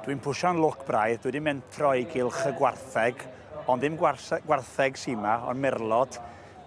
Dwi'n pwsio'n lwc braidd, dwi 'di mentro i gylch y gwartheg, ond ddim gwarse- gwartheg sy' 'ma, ond merlod.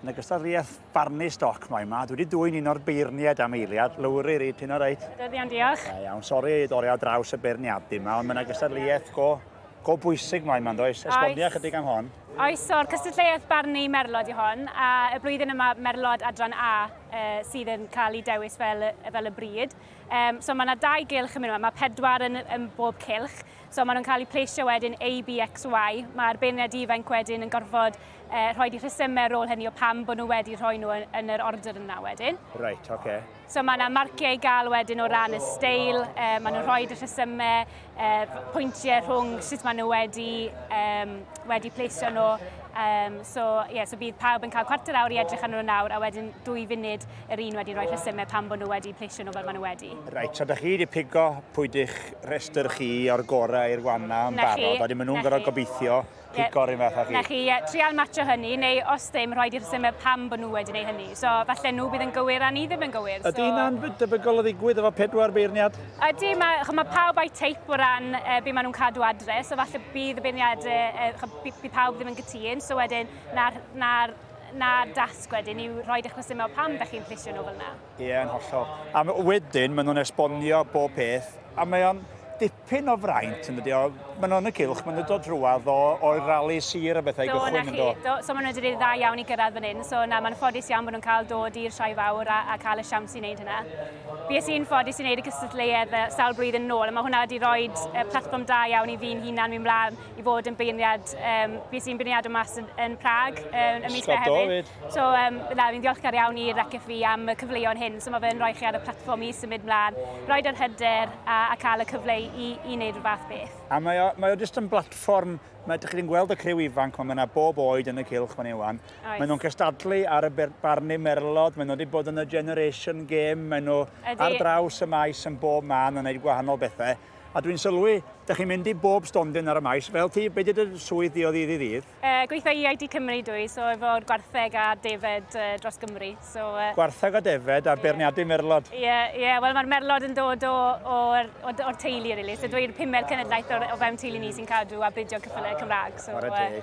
Yn ogystal â rhiaith barnu stoc moyn 'ma, dwi 'di dwyn un o'r beirniaid am eiliad. Lowri, Rhyd, ti'n oreit? Da iawn, diolch. Da iawn. Sori i dorri ar draws y beirniadu 'ma, ond mae 'na gystadleuaeth go, go bwysig moyn 'ma, yndoes? Esbonio ychydig am hon. Oes, so'r cystadleuaeth barnu merlod i hon, a y blwyddyn yma merlod adran A uh, sydd yn cael ei dewis fel, fel y bryd. Um, so mae yna dau gylch yn mynd yma, mae pedwar yn, yn bob cylch. So maen nhw'n cael eu pleisio wedyn A, B, X, Y. Mae'r beirniad ifanc wedyn yn gorfod uh, rhoi di rhesymau ar ôl hynny o pam bod nhw wedi rhoi nhw yn, yn yr order yna wedyn. Right, oce. Okay. So mae yna marciau i gael wedyn o ran y steil, uh, maen nhw'n rhoi y rhesymau, uh, pwyntiau rhwng sut maen nhw wedi, um, wedi pleisio nhw. Um, so, yeah, so bydd pawb yn cael cwarter awr i edrych ar nhw nawr a wedyn dwy funud yr un wedi rhoi rhesymau pan bod nhw wedi pleisio nhw fel maen nhw wedi. Reit, so da chi wedi pigo pwy dych rhestr chi o'r gorau i'r gwanna yn barod, a wedyn maen nhw'n gorau gobeithio pigori fath a chi. Na chi, yeah, trial matcho hynny, neu os ddim, rhaid i'r symer pam bod nhw wedi gwneud hynny. So, falle nhw bydd yn gywir a ni ddim yn gywir. So... Ydy hynna'n debygol o ddigwydd efo pedwar beirniad? Ydy, mae, mae pawb a'i teip o ran e, beth maen nhw'n cadw adre, so falle bydd y beirniad, e, bydd pawb ddim yn gytun, so wedyn, na'r, na, na dasg wedyn yw rhoi eich resymau pam da chi'n plisio nhw fel yna. Ie, yn hollol. A wedyn, maen nhw'n esbonio bob peth, a mae o'n dipyn o fraint yn dydi o. Maen nhw'n y cylch, maen nhw'n dod drwad o, o'r rali sir a bethau i gychwyn yn do. Do, so maen nhw wedi gwneud dda iawn i gyrraedd fan hyn, so na, mae'n ffodus iawn bod nhw'n cael dod i'r Sioe Fawr a, a cael y siawns i wneud hynna. Bues i'n ffodus i wneud y cystadleuedd uh, sawl blwyddyn yn ôl, a mae hwnna wedi rhoi uh, platfform da iawn i fi'n hunan fi'n mlaen i fod yn beirniad, um, bues i'n beirniad o mas yn, yn Prag uh, y mis hefyd. So, um, na, fi'n diolchgar iawn i'r RECFI am y cyfleoedd hyn, so mae fe'n rhoi chi ar y platfform i symud mlaen, rhoi yr hyder a, a cael y cyfle i, i wneud rhywbeth fath beth. A mae o, mae o jyst yn blatfform, mae ydych chi'n gweld y criw ifanc, mae yna bob oed yn y cilch fan iwan. Mae nhw'n cystadlu ar y barnu merlod, mae nhw wedi bod yn y Generation Game, mae nhw ar draws y maes yn bob man yn gwneud gwahanol bethau. A dwi'n sylwi, da chi'n mynd i bob stondin ar y maes. Fel ti, be di dy swydd di o ddydd i ddydd? E, gweithio i ID Cymru dwi, so efo'r gwartheg a defed e, dros Gymru. So, e... Gwartheg a defed a yeah. beirniadu merlod. Ie, yeah, ie. Yeah. Wel, mae'r merlod yn dod o, o, o, o'r teulu, really. So dwi'n pumed cenedlaeth o, o fewn teulu ni sy'n cadw a bridio cyffylau Cymraeg. So, e,